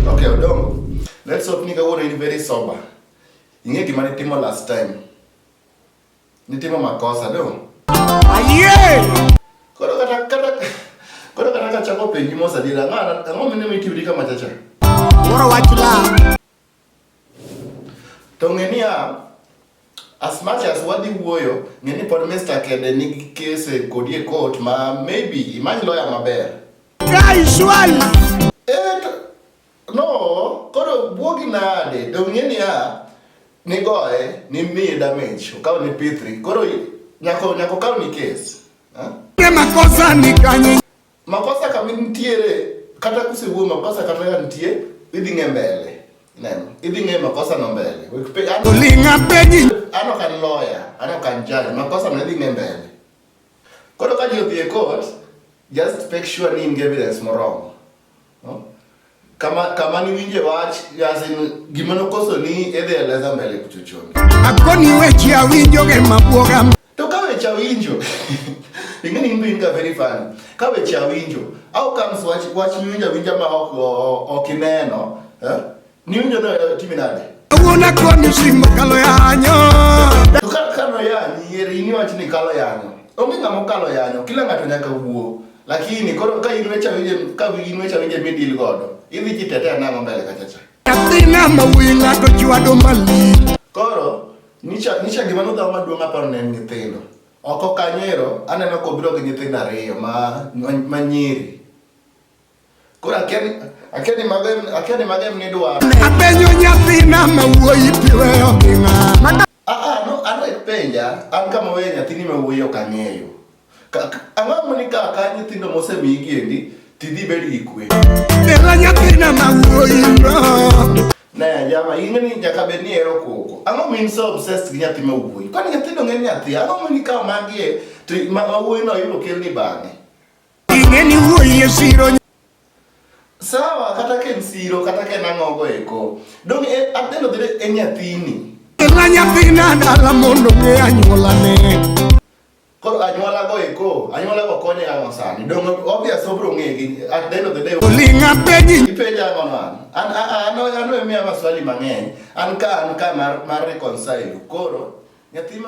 Okay, Odongo. Let's hope nigga would be very sober. Inge gima nitimo last time. Nitimo makosa, no? Aye! Koro kata kata koro kata kachako penji mosa dira ngana ngomene mitiwiri kama chacha. Moro wachula. To ng'e niya, as much as wadhi wuoyo, ng'e ni pod Mr. Kede nigi kese kodi e court ma maybe imany lawyer maber. Guy Shwali! Eh, no, koro buogi nade? To ng'e niya, nigoye, nimiye damage, okaw ni P3, koro nyako nyako kaw ni case. Huh? Makosa ni kanyi. Makosa kama nitiere kata kusewuo makosa kata ka nitie idhi ng'e mbele. Neno, idhi ng'e makosa no mbele. Olinga penyi. Ano kan lawyer, ano kan judge, makosa no idhi ng'e mbele. Koro ka ji odhi e court, just make sure ni in evidence moromo. kama kama ni winje wach yasin gima nokoso ni edhi eleza mbele kuchochoni akoni weche awinjo ge mabuoga to ka weche awinjo ingeni imbe inga very fun ka weche awinjo au comes wach wach winja winja ma ok ok ineno eh Ni unyo na eh, timi nade? Una kwa ni simo kalo yanyo. Tuka kalo yanyo, yeri ni wati ni kalo yanyo. Ongi ngamo kalo yanyo, kila ngato nyaka wuo. Lakini koro ka inwe cha wije, ka inwe cha wije midil godo. Ivi jitetea nango mbele kachacha. Katina mawuyi ngato chwado mali. Koro, nicha, nicha gima nudhawa maduong' aparo ne en nyithindo. Oko kanyero, aneno kobiro gi nyithindo ariyo ma, ma, ma nyiri. Koro akeni akeni magem akeni magem ni dwaro. Apenyo nyathina ma wuoyi piweyo gi ng'ama. Ah ah no an wek penja an kama weyo nyathini ma wuoyi ok ang'eyo. Ang'o ma ni kaka nyithindo mosemii giendi tidhi bed gi kwe. Dela nyathina ma wuoyi no. Ne jama ing'e ni nyaka bed ni ero koko. Ang'o min so obsessed gi nyathi ma wuoyi? Kwani nyithindo ng'e nyathi ang'o ma ni kama magie to ma wuoyi no yudo kelni bang'e. Ing'eni wuoyie siro sawa kata ka en siro kata ka en ang'ogo eko dong e, adeno bede en nyathini la nyathina dala mondo ng'e anyuolane koro anyuolago eko anyuolago konye ang'o sani dong obvious obro ng'egi at the end of the day olinga penyi ipenja ang'o man an an an emiya maswali mang'eny an ka an ka mar, mar reconcile koro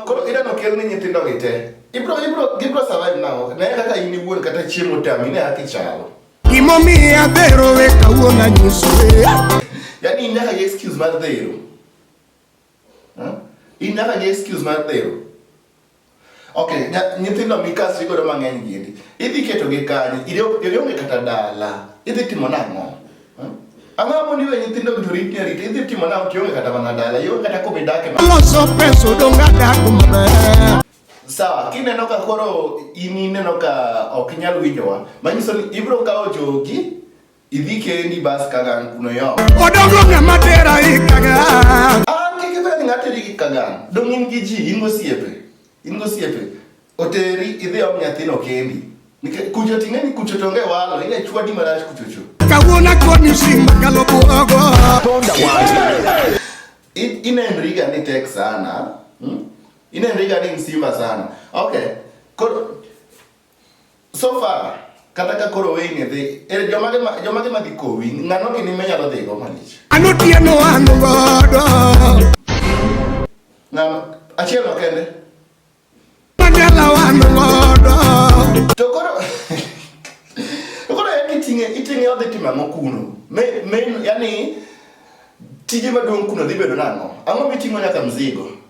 Koro idano kel ni nyithindo gi te. Ibro ibro gibro survive now. Ne kaka in iwuon kata chiemo tami ne haki chalo. Gimomiyo adhero we kawuono anyiso. Yaani in nyaka gi excuse mar dhero. In nyaka gi excuse mar dhero. Okay, nyithindo mikasi godo mang'eny gini. Idhi keto gi kanye? Idhi onge kata dala. Idhi timo nang'o? Ang'amo ni we nyithindo to rit ni arita idhi timo nao kionge kata mana dala ionge kata kuma idake loso pesa odong' adak maber sawa kineno ka koro in ineno ka ok inyal winjowa manyiso ni ibiro kawo jogi idhi kendi bas kagan kuno yo odongo ng'ama tera ikaga an kikibed ng'ateri gi kagan dong' in gi ji in gosiepe In gosiepe oteri idhi om nyathino kendi. Nikech kucho ting'e ni kucho tonge walo, ine chwadi marach kuchocho. Kawuona koni simba kalo buogo. Tonda walo. Inenriga ni tek sana. Hmm? Inenriga ni msimba sana. Okay. Koro So far, kata ka koro weyni dhi, er jomage ma jomage ma dhi kowi, ng'ano kini menyalo dhigo malich. Anotieno an godo. Ng'ano achiel no kende. Anyala an godo. To koro To koro yani iting'e iting'e odhi timo ang'o kuno? Me me yani tije maduong' kuno dhi bedo nang'o? Ang'o miting'o nyaka mzigo?